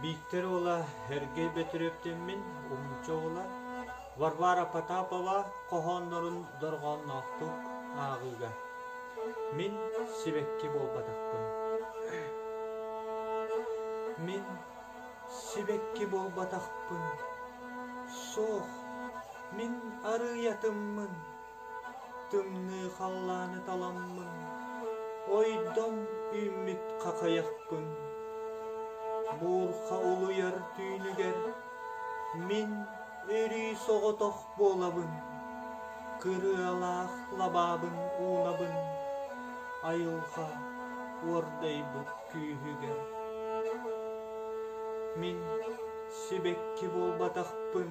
Бииктэр уола Эргэй Бөтүрүөптэммин, уһунча оҕоло Варвара Потапова хоһооннорун дорҕоонноохтук ааҕыыга. Мин сибэкки буолбатахпын. Мин сибэкки буолбатахпын. Суох, мин арыыйатыммын. Тымныы халлааны таламмын, ойдом үүммүт хахайахпын. Буурха улуйар түүнүгэр мин өрүү соҕотох буолабын, кырыалаах лабаабын уунабын айылҕа уордайбыт күүһүгэр. Мин сибэкки буолбатахпын,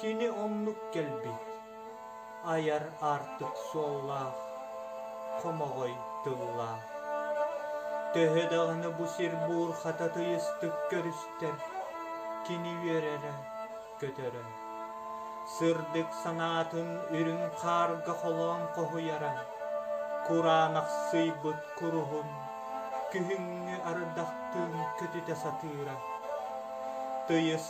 Кини оннук кэлбит айар аартык суоллаах, хомоҕой тыллаах. Төһө даҕаны бу сир-буор хата тыйыстык көрүстэр, кини үөрэрэ, көтөрө. Сырдык санаатын үрүҥ хаарга холоон хоһуйара, кураанахсыйбыт куруһун күһүҥҥү ардахтыын көтүтэ сатыыра. Тыйыс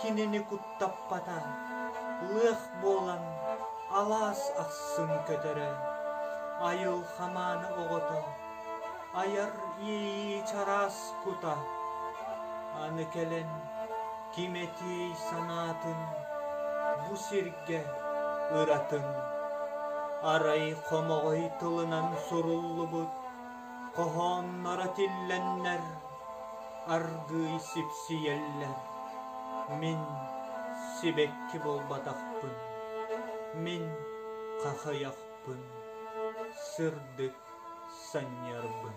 кинини куттаппата, лыах буолан алаас ахсын көтөрө, айыл хамаана оҕото, айар иэйии чараас кута, аны кэлэн ким этиэй санаатын бу сиргэ ыратын. Арай хомоҕой тылынан суруллубут хоһоонноро тиллэннэр Аргыый сипсийэллэр, мин сибэкки буолбатахпын, мин хахыйахпын, сырдык санньарбын